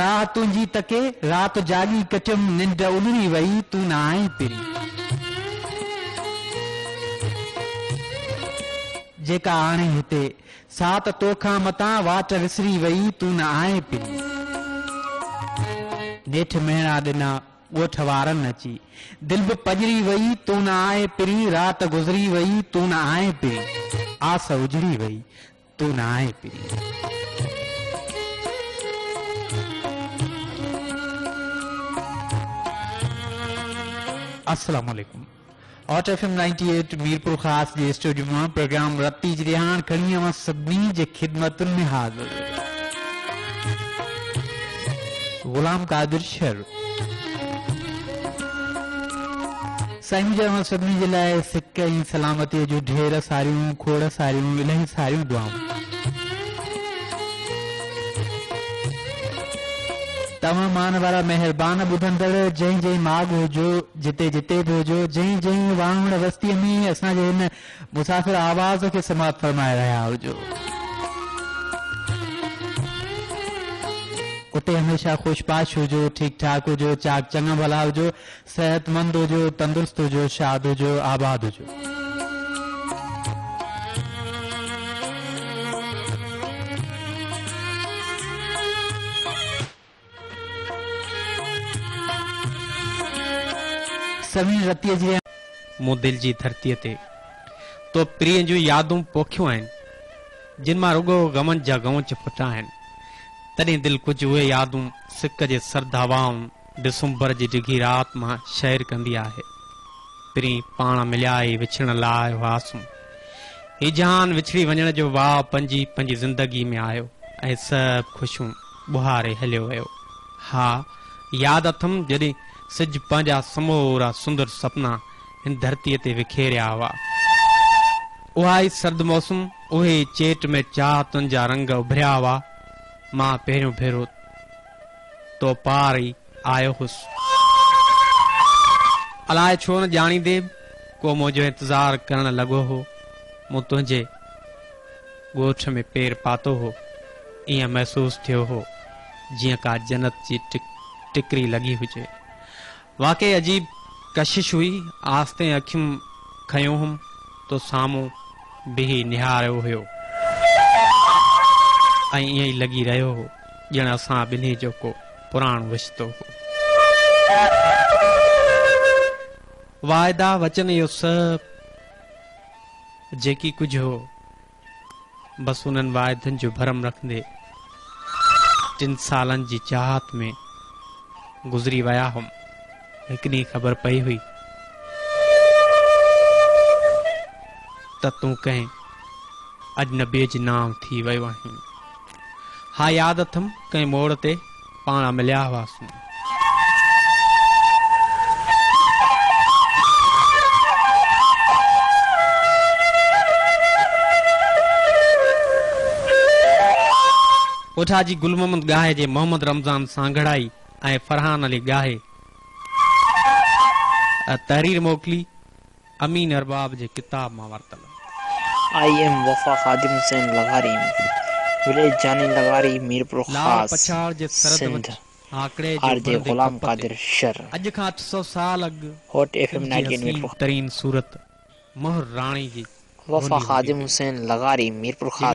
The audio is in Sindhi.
راهه تنهنجي تڪي، رات جاڳي ڪٽيم ننڊ الهڙي وئي، تون نه آئين پري. جيڪا آڻي هتي، سا ته تو کان متان واٽ وسري وئي، تون نه آئين پري. نيٺ مهڻا ڏنا ڳوٺ وارن اچي، دل به پڄري وئي، تون نه آئين پري، رات گذري وئي، تون نه آئين پري، آس اجڙي وئي، تون نه آهين پرينء. السلام عليڪم hot F M ninety eight Mirpur Khas جي اسٽوڊيو مان پروگرام رتي جي رهاڻ کڻي اوهان سڀني جي خدمتن ۾ حاضر غلام قادر شهر سائين منهنجي اوهان سڀني جي لاء سڪ ۽ سلامتيء جون ڍير ساريون کوڙ ساريون الهي ساريون دعائون. توهان مان وارا مهربان ٻڌندڙ جنهن جنهن ماڳ هجو جتي جتي به هجو جنهن جنهن واهوڻ وستيء ۾ اسان جي هن مسافر آواز کي سماعت فرمائي رهيا هجو اتي هميشه خوش باش هجو ٺيڪ ٺاڪ هجو چاڪ چڱا ڀلا هجو صحتمند هجو تندرست هجو شاد هجو آباد هجو. سوين رتيء جي. مون دل جي ڌرتيء تي تو پرينء جون يادون پوکيون آهن جن مان رڳو غمن جا غونچ ڦٽا آهن تڏهن دل ڪجهه اهي يادون سڪ جي سرد هوائن ڊسمبر جي ڊگهي رات مان شعر ڪندي آهي. پرين پاڻ مليا ئي وڇڙڻ لاء آيو هئاسون. هي جهان وڇڙي وڃڻ جو واء پنهنجي پنهنجي زندگي ۾ آيو ۽ سڀ خوشيون ٻهاري هليو ويو. ها، ياد اٿم جڏهن سج پنهنجا سمورا سندر سپنا هن ڌرتيء تي وکيريا هئا. اها ئي سرد موسم، اهي ئي چيٽ ۾ چاهتن جا رنگ اڀريا هئا. مان پهريون ڀيرو. تو پار ئي آيو هوس. الاء ڇو نه ڄاڻيندي به ڪو منهنجو انتظار ڪرڻ لڳو هو. مون تنهنجي ڳوٺ ۾ پير پاتو هو. ائين محسوس ٿيو هو جيئن ڪا جنت جي ٽڪري لڳي هجي. واقعي عجيب ڪشش هئي، آستين اکيون کنيو هوم تو سامهون بيهي نهاريو هيو ۽ ائين ئي لڳي رهيو هو ڄڻ اسان ٻنهي جو ڪو پراڻو رشتو هو. واعدا وچن اهو سڀ جيڪي ڪجهه هو بس انهن واعدن جو ڀرم رکندي ٽن سالن جي چاهت ۾ گذري ويا هئم هڪ ڏينهن خبر پئي هئي ته تون ڪنهن اجنبيء جي نانء ٿي ويو آهين ها ياد اٿم ڪنهن موڙ تي پاڻ مليا هئاسون. اوٺا جي گل محمد ڳاهي جي محمد رمضان سانگهڙائي ۽ فرحان علي ڳاهي تحرير موڪلي. امين ارباب جي ڪتاب مان ورتل. آئي ايم وفا خادم حسين لغاري وليج جاني لغاري لال ميرپورخاص پڇاڙ جي سرحد سنڌ وٽ آڪڙي آر جو جي بڻندي غلام ڪپ تي قادر شر اڄ کان اٺ سؤ سال اڳ هوٽ ايف ايم سنڌ جي نائنٽي ايٽ حسين ميرپورخاص. ترين صورت مهر راڻي جي وفا گونڊي هوندي خادم هئي. حسين لغاري ميرپورخاص.